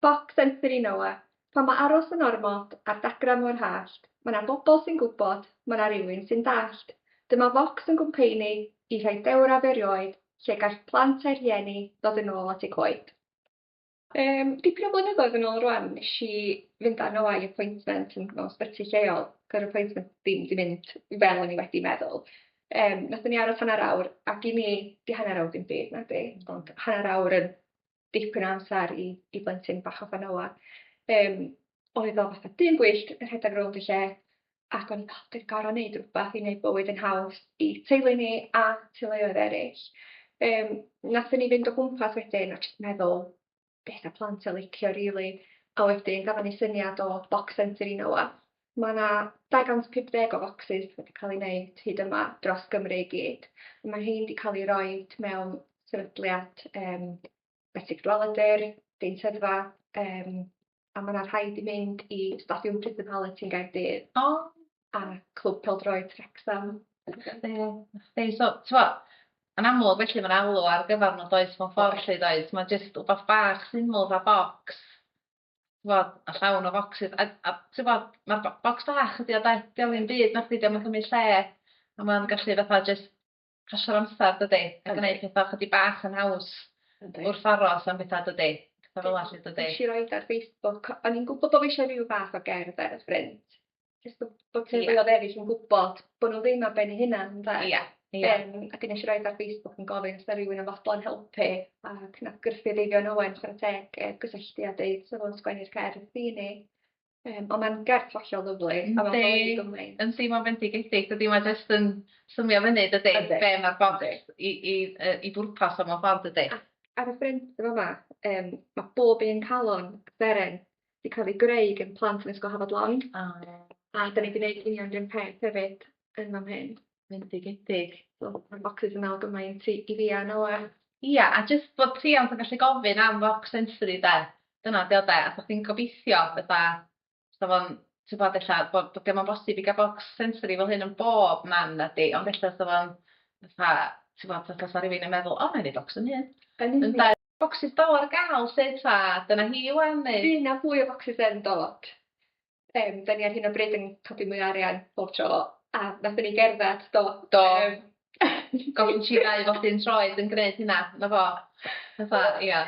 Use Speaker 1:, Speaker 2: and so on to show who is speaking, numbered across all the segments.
Speaker 1: Boc Sensory Noa, pan ma aros yn ormod ar dagrau mor hallt, ma na bobl sy'n gwybod, ma na rywun sy'n dallt. Dyma Vox yn gwmpeini i rhai dewraf erioed lle gall plant a'u rhieni ddod yn ôl at eu coed. Yym, dipyn o flynyddoedd yn ôl rwan nesh i fynd â Noa i appointment yn mewn sbyty lleol, gy'r appointment ddim di mynd fel o'n i wedi meddwl. Yym, nathon ni aros hanner awr, a gin i, di hanner awr ddim byd, nadi? Ond hanner awr yn dipyn o amser i, i blentyn bach o Fanoa. Um, oedd o fatha dyn gwyllt yn rhedeg rownd y lle, ac o'n i'n fel, dwi'n gorau wneud rhywbeth i wneud bywyd yn haws i teulu ni a teuluoedd eraill. Um, Nathon ni fynd o gwmpas wedyn a jyst meddwl beth a plant a licio rili. Really. A wedyn gafon ni syniad o Box Centre i Noa. Mae yna 250 o focsys wedi cael ei wneud hyd yma dros Gymru i gyd. Mae rhein wedi cael eu rhoi mewn sefydliad um, Betsi Cadwaladr, Deintyddfa, um, a mae yna rhai wedi mynd i Stadiwm Prison Hallett yn Gaerdydd. O! A Clwb Peldroed Wrexham.
Speaker 2: Be, so, twa, yn amlwg felly mae'n alw ar gyfer nhw does mewn ffordd lle does, mae'n jyst wbath bach syml fa bocs t'wod a llawn o focsys a a t'wod ma'r bo- bocs bach ydi o 'de? 'Di o'm ddim byd nachdi 'di o'm yn cymyd lle a ma'n gallu fatha jyst pasio'r amsar dydi? A gneud petha chydig bach yn haws. Yndi. Wrth aros am betha dydi? Petha fel 'a 'lly dydi? Nesh i roid ar Facebook
Speaker 1: o- o'n i'n gwbo bo' fi isio ryw fath o gerdd ar y ffrynt jyst bo' bo' teuluodd eryll yn gwbod bo' n'w ddim ar ben eu hunan ynde? Ia ia. Yym a dwi nesh i roid ar Facebook yn gofyn os 'na rywun yn fodlon helpu a cydnabgrffu'r Eifion Owen chwara teg yy gysylltu a deud sa fo'n sgwennu'r cerdd i ni yym on' ma'n gerdd hollol lyfli a ma'n golygu gymaint.
Speaker 2: Yndi yndi ma'n fendigedig dydi ma' jyst yn swnio fyny dydi be' ma'r bont i i yy i bwrpas o mewn ffordd dydi? Ac ar y ffrynt
Speaker 1: yn fama yym ma' bob un calon seren 'di cael ei greu gan plant yn Ysgol Hafod Long. O ie. A 'dan ni 'di neud union 'r un peth hefyd yn fan hyn. Bendigedig.
Speaker 2: So ma'r bocsys
Speaker 1: yn me'wl gymaint i i fi a Noa. Ia a jyst
Speaker 2: bod rhiant yn gallu gofyn am focs sensory 'de? Dyna 'di o 'de? A bo' chdi'n gobeithio fetha sa fo'n t'bod ella bo' bo' 'di o'm yn bosib i ga'l bocs sensory fel hyn yn bob man nadi ond ella sa fo'n fatha t'bod fatha sa rywun yn meddwl o 'nai neud bocs fy hun. Yn union. Ynde? Bocsys Dolo ar gael 'lly ta dyna hi 'wan neu? Fydd 'na fwy o focsys
Speaker 1: yn dod. Yym 'dan ni ar hyn o bryd yn codi mwy o arian bob tro a nathon ni gerddad do? Do. Yym
Speaker 2: gofyn chi ddau bob un tro oedd yn gneud hynna 'na fo. Fatha ia.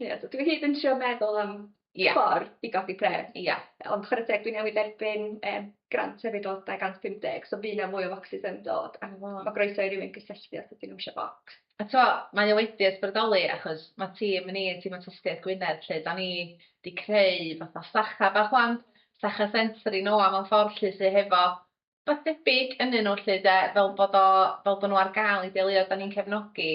Speaker 2: Ia so
Speaker 1: dwi hyd yn trio meddwl am Ie. ffordd i godi pres. Ie. Ond chware teg dwi newydd dderbyn yym grant hefyd o 250 so fydd 'na mwy o focsys yn dod a ma' ma' groeso i rywun gysylltu os ydyn nhw isio bocs. A t'mo' mae o
Speaker 2: wedi ysbrydoli achos ma' tîm ni tîm awtistiaeth Gwynedd lle 'dan ni 'di creu fatha sacha bach ŵan sacha sensory nôa mewn ffordd 'lly sy hefo Rhywbeth debyg ynnyn nhw 'lly 'de, fel bod o... fel bod nhw ar gael i deuluoedd dan ni'n cefnogi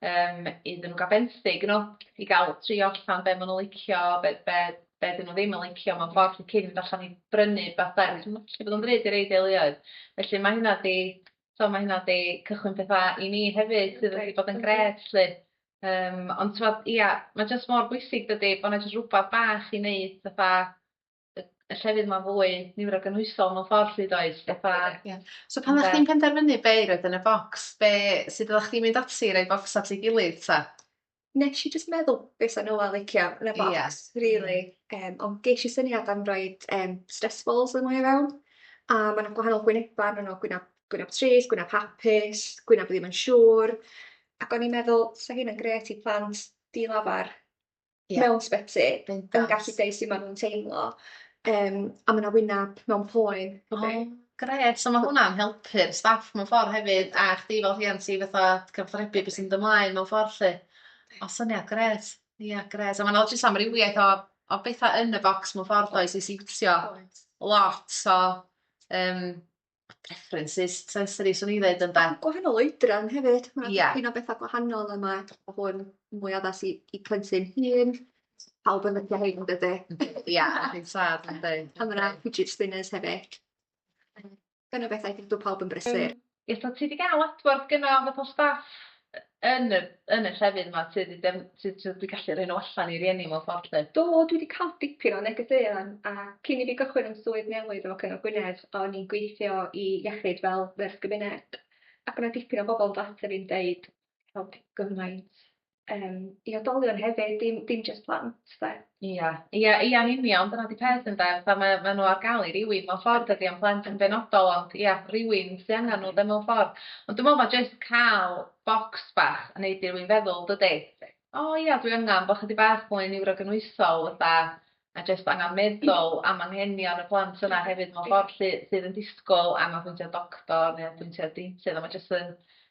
Speaker 2: yym iddyn nhw gael benthyg you know i gael trio allan be maen nhw'n licio, be be be 'dyn nhw ddim yn licio mewn ffordd 'lly cyn mynd allan i brynu rhywbeth de, achos ma'n gallu bod yn ddrud i rei deuluoedd. Felly ma' hynna 'di... tibod ma' hynna 'di cychwyn pethau i ni hefyd sydd wedi bod yn grêt 'lly. Yym ond tibod ia, ma' jyst mor bwysig dydi, bod 'na jyst rhywbeth bach i wneud fatha y y llefydd 'ma fwy niwrogynhwysol mewn ffordd 'lly does fatha... Ie. So pan
Speaker 3: o'ch chdi'n penderfynu be' i roid yn y bocs be' sud oddach chdi'n mynd ati i roi bocsa at ei gilydd 'ta? Nesh i jyst
Speaker 1: meddwl be' 'sa Noel licio yn y bocs rili yym ond gesh i syniad am roid yym stress balls yno i fewn a ma' 'na gwahanol gwyneba arnyn n'w gwynab gwynab trist gwynab hapus gwynab ddim yn siŵr ac o'n i'n meddwl 'sa hynna'n grêt i plant di-lafar. Ie. mewn sbyty yn Bendant. gallu deud su' ma' nw'n teimlo yym a ma' 'na wynab mewn poen O, hefyd. grêt.
Speaker 3: So ma' hwnna'n helpu'r staff mewn ffor hefyd a chdi fel rhiant i fatha cyfathrebu be' sy'n mynd ymlaen mewn ffor 'lly. O syniad grêt. Ia grêt a ma' 'na jyst amrywiaeth o o betha yn y bocs mewn ffor does i siwtio Oes. lot o yym preferences sensory swn i'n ddeud ynde? A gwahanol oedran
Speaker 1: hefyd. Mae yeah. dipyn o bethau gwahanol yma. Mae hwn mwy addas i, i plentyn hun. Pawb yn lyfio hyn, dydy? Ia, yn
Speaker 3: sad, yn dweud. A mae'na fidget spinners
Speaker 1: hefyd. Dyna bethau dwi'n dweud pawb yn brysur. Ie, so ti wedi cael
Speaker 2: adborth gynnaf o staff yn y yn y llefydd 'ma ti 'di def- ti t'o' dwi gallu rhoi n'w allan i rieni mewn ffordd 'lly. Do dwi 'di ca'l
Speaker 1: dipyn o negeseuon a cyn i fi gychwyn 'yn swydd newydd efo Cyngor Gwynedd o'n i'n gweithio i iechyd fel nyrs gymuned ac o' 'na dipyn o bobol yn dod ata fi'n deud helpu gymaint yym i oedolion hefyd dim dim jyst plant 'de. Ia, ia, ia
Speaker 2: yn union, dyna 'di peth ynde, fatha mae ma' nhw ar gael i rywun mewn ffordd dydi o'n plant yn benodol ond ia rywun sy angen nhw 'de mewn ffordd ond dwi'n meddwl ma' jyst cael bocs bach yn neud i rywun feddwl dydi? O ia dwi angen bo' chydig bach mwy niwrogynhwysol fatha a jyst angan meddwl am anghenion y plant yna hefyd mewn ffordd sy sydd yn disgwyl angan pwyntio doctor neu apwyntiad deintydd a ma' jyst yn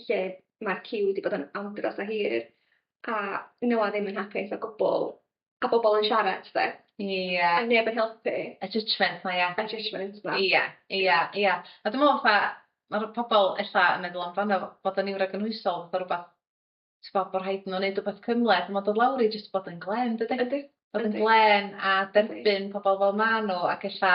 Speaker 1: lle mae'r ciw wedi bod yn andros o hir a nhw a ddim yn hapus o gwbl a bobl yn siarad 'de? Ie. A neb yn helpu. Y judgement 'ma ia? Y
Speaker 2: judgement
Speaker 1: 'ma. Ia ia ia
Speaker 2: a dwi me'wl fatha ma'r pobol ella yn meddwl amdano bod yn niwrogynhwysol fatha rwbath t'bo' bo' rhaid n'w neud wbath cymhleth on' ma' do' lawr i jyst bod yn glên dydi? Yndi. Bod yn glên a derbyn pobol fel ma' n'w ac ella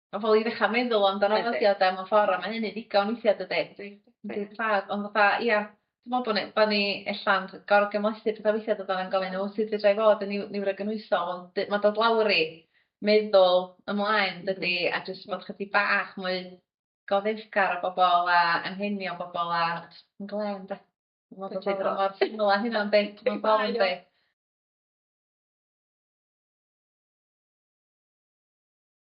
Speaker 2: Ma' pobol i ddechra meddwl amdano fo 'di o 'de mewn ffor a ma' hynny'n ddigon weithia' dydi? Yndi yndi. Yndi tad ond fatha ia dwi me'wl bo' ni bo' ni ella'n gor'o' gymhlethu petha weithia' dydan yn gofyn o sud fedrai fod yn niw- niwrogynhwysol ond dy- ma' dod lawr i meddwl ymlaen dydi a jyst bod chydig bach mwy goddefgar o bobol a anghenion bobol a js yn glên 'de? mor syml â hynna yndi? Mewn ffor yndi?